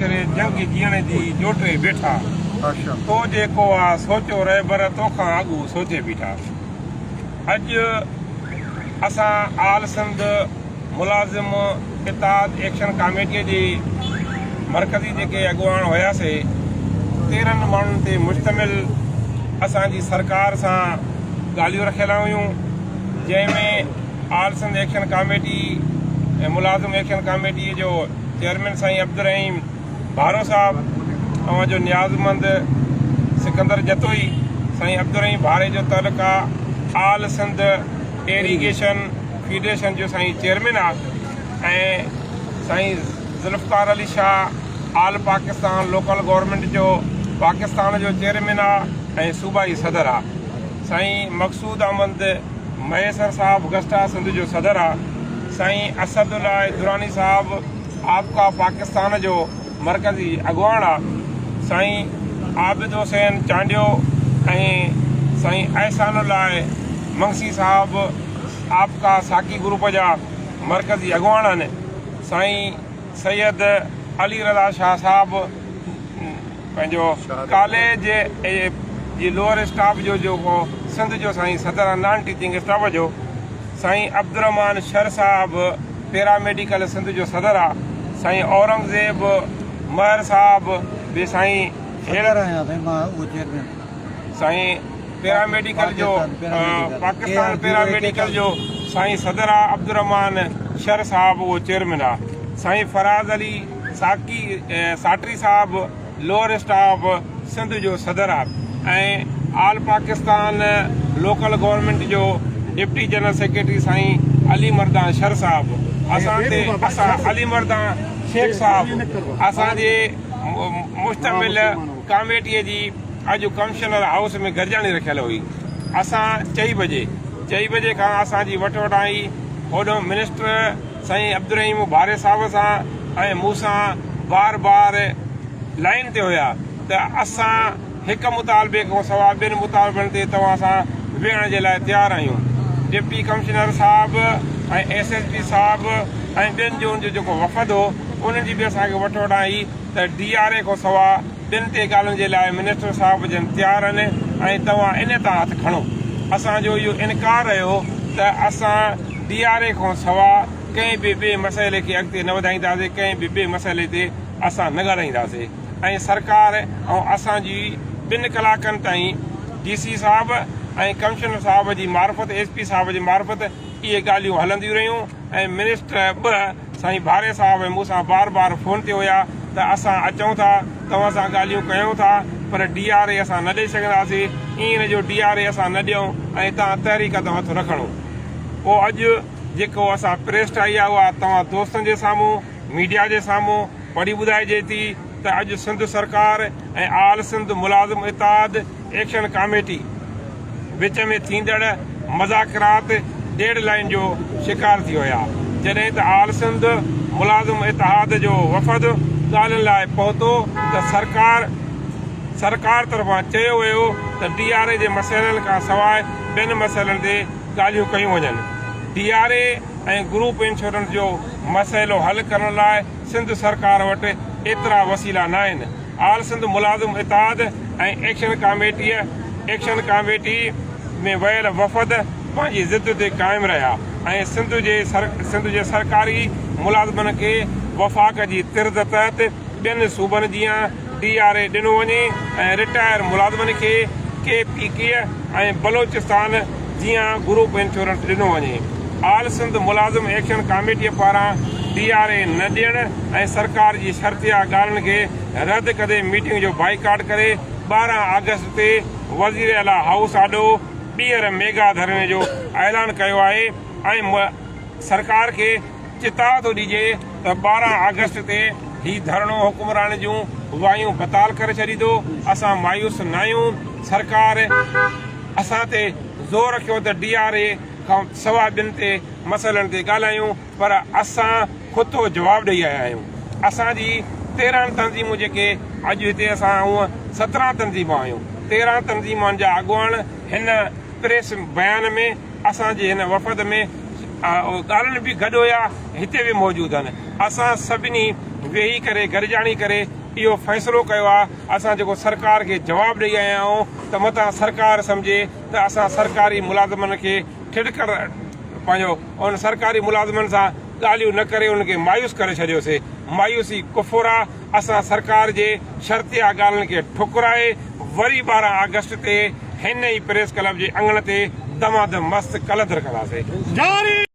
ڪري جنگ جيئڻ جي جوٽي بيٺا. تو جيڪو آ سوچيو رهبر تو کان اڳو سوچي بيٺا. اڄ اسان آل سنڌ ملازم اتحاد ايڪشن ڪاميٽي جي مرڪزي جيڪي اڳواڻ هياسي تيرهن ماڻهن تي مشتمل اسان جي سرڪار سان ڳالهيون رکيل هيون جنهن ۾ آل سنڌ ايڪشن ڪاميٽي ۽ ملازم ايڪشن ڪاميٽي جو چيئرمين سائين عبدالرحيم ڀارو صاحب اوهان جو نيازمند سڪندر جتوئي سائين عبدالرحيم ڀاري جو تعلق آ آل سنڌ ايريگيشن فيڊريشن جو سائين چيئرمين آ ۽ سائين Zulfiqar Ali Shah all Pakistan local government جو پاڪستان جو چيئرمين آ ۽ صوبائي صدر آ سائين مقصود احمد مهيسر صاحب گسٽا سنڌ جو صدر آ. سائين اسد الله دراني صاحب آپڪا پاڪستان جو مرڪزي اڳواڻ آ سائين عابد حسين چانڊيو ۽ سائين احسان الله منگسي صاحب آپڪا ساقي گروپ جا مرڪزي اڳواڻ آھن سائين سيد علي رضا شاھ صاحب پنهنجو ڪالي جي جي لوئر اسٽاف جو جيڪو سنڌ جو سائين صدر نان ٽيچنگ اسٽاف جو سائين عبدالرحمان شر صاحب پيرا ميڊيڪل سنڌ جو صدر آ سائين اورنگزيب مهر صاحب به سائين هيڙر آهيان سائين مان اهو چيئرمين سائين پيرا ميڊيڪل جو پاڪستان پيرا ميڊيڪل جو سائين صدر آ عبدالرحمان شر صاحب اهو چيئرمين آ سائين فراز علي ساقي ساٽري صاحب لوئر اسٽاف سنڌ جو صدر of ۽ all Pakistan local government جو ڊپٽي جنرل سيڪريٽري سائين علي مردان شر صاحب اسان تي اسان علي مردان شيخ صاحب اسان جي مشتمل ڪاميٽي جي اڄ ڪمشنر هائوس ۾ گڏجاڻي رکيل هئي اسان چئي بجي چئي بجي کان اسان جي وٽ وٽائي هوڏهن منسٽر سائين عبدالرحيم ڀاري صاحب سان ۽ مون سان بار بار لائين تي هيا ته اسان هڪ مطالبي کان سواء ٻين مطالبن تي توهان سان ويهڻ جي لاء تيار آهيون. ڊپٽي ڪمشنر صاحب ۽ ايس ايس پي صاحب ۽ ٻين جو ان جو جيڪو وفد هو انهن جي به اسان کي وٺ وٺان هئي ته ڊي آر اي کان سواء ٽن تي ڳالهن جي لاء منسٽر صاحب جن تيار آهن ۽ توهان ان تان هٿ کڻو. اسان جو اهو انڪار رهيو ته اسان ڊي آر اي کان سوا ڪنهن به ٻئي مسئلي کي اڳتي نه وڌائينداسي، ڪنهن به ٻئي مسئلي تي اسان نه ڳالهائينداسي ۽ سرڪار ۽ اسان جي ٻن ڪلاڪن تائين ڊي سي صاحب ۽ ڪمشنر صاحب جي معرفت ايس پي صاحب جي معرفت اهي ڳالهيون هلنديون رهيون ۽ منسٽر به سائين ڀاري صاحب مون سان بار بار فون تي هيا ته اسان اچون ٿا توهان سان ڳالهيون ڪيون ٿا پر ڊي آر اي اسان نه ڏئي سگهنداسين اين جو ڊي آر اي اسان نه ڏيون ۽ تان تحريڪ تان هٿ نه کڻون پو اڄ جيڪو اسان پريس ٺاهي آ اها توهان دوستن جي سامهون ميڊيا جي سامهون پڙهي ٻڌائجي ٿي. ته اڄ سنڌ سرڪار ۽ آل سنڌ ملازم اتحاد ايڪشن ڪاميٽي وچ ۾ ٿيندڙ مذاڪرات ڊيڊ لائين جو شڪار ٿي ويا جڏهن ته آل سنڌ ملازم اتحاد جو وفد ڳالهين لاء پهتو ته سرڪار سرڪار طرفان چيو ويو ته ڊي آر اي جي مسئلن کان سواء ٻين مسئلن تي ڳالهيون ڪيون وڃن D R A ۽ group insurance جو مسئلو حل ڪرڻ لاء سنڌ سرڪار وٽ ايترا وسيلا ناهن، آل سنڌ ملازم اتحاد ۽ ايڪشن ڪاميٽيء، Action Committee، ۾ ويل وفد پنهنجي ضد تي قائم رهيا ۽ سنڌ جي سنڌ جي سرڪاري ملازمن کي وفاق جي طرز تحت ٻين صوبن جيان ڊي آر اي ڏنو وڃي ۽ رٽائر ملازمن کي ڪي پي ڪي ۽ بلوچستان جيان گروپ انشورنس ڏنو وڃي آل سنڌ ملازم ايڪشن ڪاميٽي پاران ڊي آر اي نه ڏيڻ ۽ سرڪار جي شرطيا ڳالهن کي رد ڪندي ميٽنگ جو بائيڪاٽ ڪري ٻارهن آگسٽ تي وزير اعليٰ هائوس آڏو ٻيهر ميگا ڌرڻي جو اعلان ڪيو آهي ۽ سرڪار کي چتاء ٿو ڏجي ته ٻارهن آگسٽ تي هي ڌرڻو حڪمران جون وايون بتال ڪري ڇڏيندو، اسان مايوس ناهيون، سرڪار اسان تي زور رکيو ته ڊي آر اي کان سواء ٻين تي مسئلن تي ڳالهايون پر اسان کتو جواب ڏئي آيا آهيون، اسان جي تيرهن تنظيمون جيڪي اڄ هتي اسان هونء سترهن تنظيمون آهيون، تيرهن تنظيمان جا اڳواڻ هن پريس بيان ۾. اسان جي هن وفد ۾ ڳالهن به گڏ هيا هتي به موجود آهن اسان سڀني ويهي ڪري گڏجاڻي ڪري اهو فيصلو ڪيو آهي اسان جيڪو سرڪار کي جواب ڏئي آيا آهيون ته متان سرڪار سمجهي ته اسان سرڪاري ملازمن کي ٺٽڪر پنهنجو ان سرڪاري ملازمن سان ڳالهيون نه ڪري ان کي مايوس ڪري ڇڏيوسي مايوسي ڪفر آهي. اسان سرڪار جي شرطيا ڳالهين کي ٺڪرائي وري ٻارهن آگسٽ تي هن ئي پريس ڪلب جي اڱڻ تي دمادم مست ڪلندر ڪنداسين.